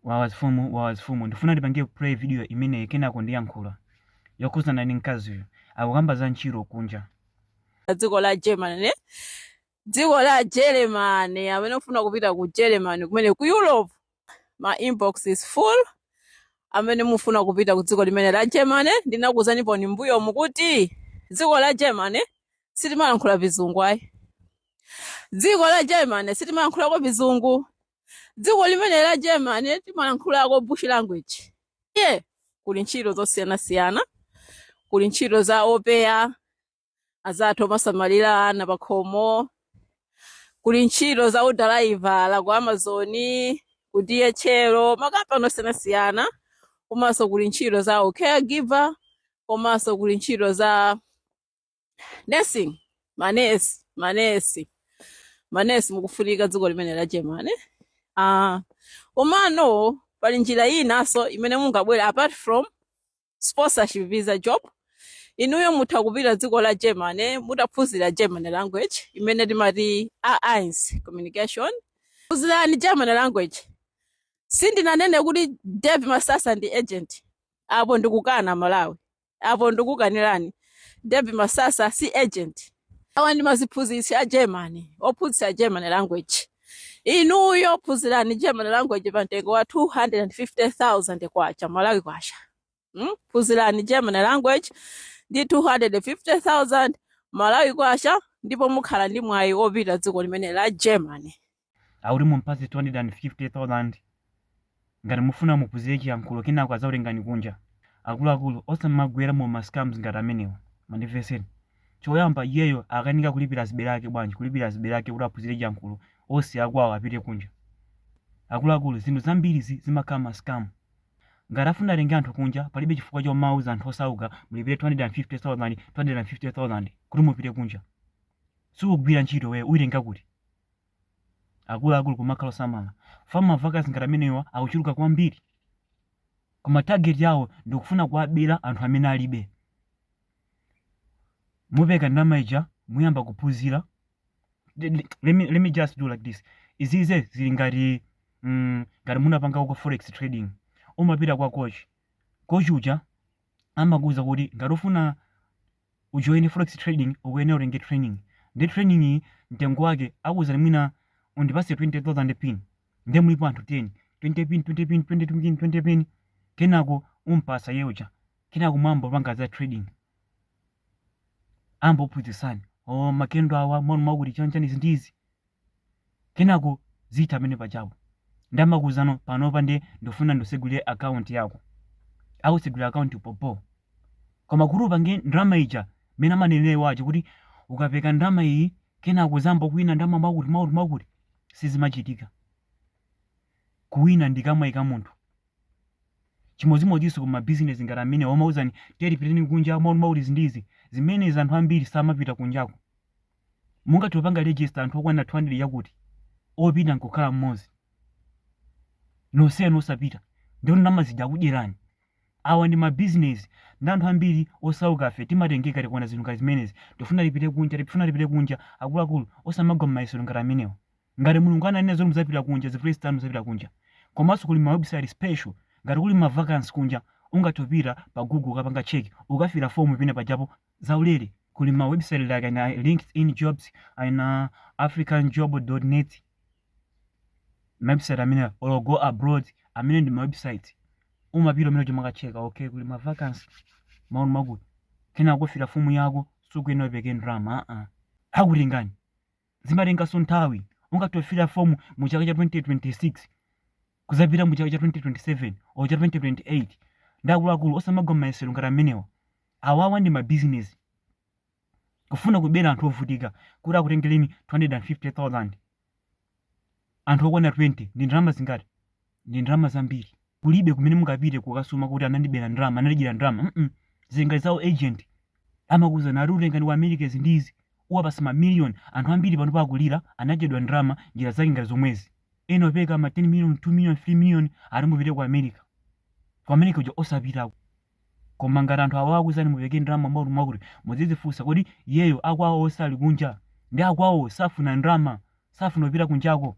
Wawa mfumu wawa mfumu ndifuna ndipange play video imene kenako ndiyankhula yokhuzana ndi mkaziyo akukamba za ntchito kunja. dziko la Germany eh? dziko la Germany amene mufuna kupita ku Germany kumene ku Europe my inbox is full amene mufuna kupita ku dziko limene la Germany ndinakuuzanipo m'mbuyomu kuti dziko la Germany sitimalankhula vizungu ayi dziko la Germany sitimalankhulako vizungu dziko limene la germany timalankhulako Dutch language iye kuli ntchito zosiyanasiyana kuli ntchito za opeya azathu omasamalira ana pakhomo kuli ntchito za udalaivala ku amazoni ku dhl makampani osiyanasiyana komanso kuli ntchito za ucaregiver komanso kuli ntchito za nursing manesi manesi manesi mukufunika dziko limene la germany uh, komano pali njira inanso imene mungabwera apart from sponsorship visa job inuyo mutha kupita dziko la germany mutaphunzira german language imene timati a1 communication phunzirani german language sindinanene kuti david masasa ndi agent apo ndikukana malawi apo ndikukanirani david masasa si agent awa ndi maziphunzitsi a german ophunzitsa german language inuyo phunzirani german language pa mtengo wa 250000 kwacha malawi kwacha hmm? phunzirani german language ndi 250000 malawi kwacha ndipo mukhala ndi mwayi wopita dziko limene la germany akuti mumpatse 250,000 ngati mufuna muphunzire chiyankhulo kenako adzakutengani kunja. Akuluakulu, osamagwera mu ma scams ngati amenewa. Mandimvetseni. Choyamba iyeyo akanika kulipira azibale ake bwanji, kulipira azibale ake kuti aphunzire chiyankhulo osiya kwawo apite kunja? Akuluakulu, zinthu zambiri zimakhala ma scam. Ngati afuna atenge anthu kunja, palibe chifukwa chomauza anthu osauka mulipire 250,000, 250,000 kuti mupite kunja. Sukugwira ntchito iweyo, uitenga kuti? Akuluakulu kumakhala osamala. Fam ma vacancy ngati amenewa akuchuluka kwambiri. Koma target yawo ndikufuna kuwabera anthu amene alibe. Mupeka ndalama ija muyamba kuphunzira. Let me, let me just do like this. Izizi zili ngati mm, ngati munapangako forex trading. Umapita kwa coach. Coach uja amakuwuza kuti ngati ufuna ujoine forex trading ukuyenera utenge training nde training iyi mtengo wake akuuzani mwina undipase 20000 pin nde mulipo anthu 10 20 pin 20 pin 20 pin 20 pin kenako umpasa iye uja kenako mwayamba kupanga za trading ayamba kuphunzitsani o makendo awa mwakutimwakuti chanchani izi ndi izi Kenako zithera pamene pajapo. Nde amakuuzano panopa nde ndufuna ndusegulire account yako. Akusegulira account yo bho. Koma kuti upange ndalama ija mene amanenera iwo aja kuti ukapeka ndalama iyi kenako uzamba kuwina ndalama mwakuti mwakuti mwakuti sizimachitika. Kuwina ndi kumwaika munthu. Chimodzimodzinso ku ma business ngati amene amauzani tiyeni pitani kunja mwakuti mwakuti izi ndi izi. Zimene izi anthu ambiri samapita kunjako. Mungathe kupanga register anthu okwanira 200 yakuti, opita nkukhala mmodzi. Nonsenu osapita, ndikuti ndalama zija akudyerani. Awa ndi ma business, ndi anthu ambiri osaukafe timatengeka tikaona zinthu ngati zimenezi. Tikufuna tipite kunja, tikufuna tipite kunja. Akuluakulu, osamagwa mmayesero ngati amenewa. Ngati Mulungu ananena zoti mudzapita kunja, zivute zitani mudzapita kunja. Komanso kuli ma website special, ngati kuli ma vacancy kunja, ungatopita pa Google ukapanga check, ukafila form pena pajapo, zaulere kuli ma website like ina linkedin jobs ina africanjob net ma website amene or go abroad amene ndi ma website umapita umene timakacheka okay kuli ma vacancy mwakuti mwakuti kenako kufira fomu yako sukuyenera upeke ndalama aa akutengani zimatenganso nthawi ungatofira fomu mu chaka cha 2026 kuzapita mu chaka cha 2027 or cha 2028 nde akuluakulu osamagwa mmayesero ngati amenewa Awawa ndi ma business kufuna kubera anthu ovutika kuti akutengeleni 250,000 anthu okwana 20 ndi ndalama zingati ndi ndalama zambiri kulibe kumene mungapite kukasuma kuti anandibera ndalama anandidyera ndalama mm zinga za ma agent amakuuzani akutengani ku America izi ndi izi uwapasa ma million anthu ambiri panopa akulira anadyedwa ndalama njira zake ngati zomwezi ena opeka ma 10 million 2 million 3 million ati mupite ku America ku America uja osapitako Koma ngati anthu awa akuuzani mupeke ndalama mwakuti mwakuti, mudzidzifunsa kodi iyeyo akwawo osali kunja? Ndiye akwawowo safuna ndalama, safuna kupita kunjako?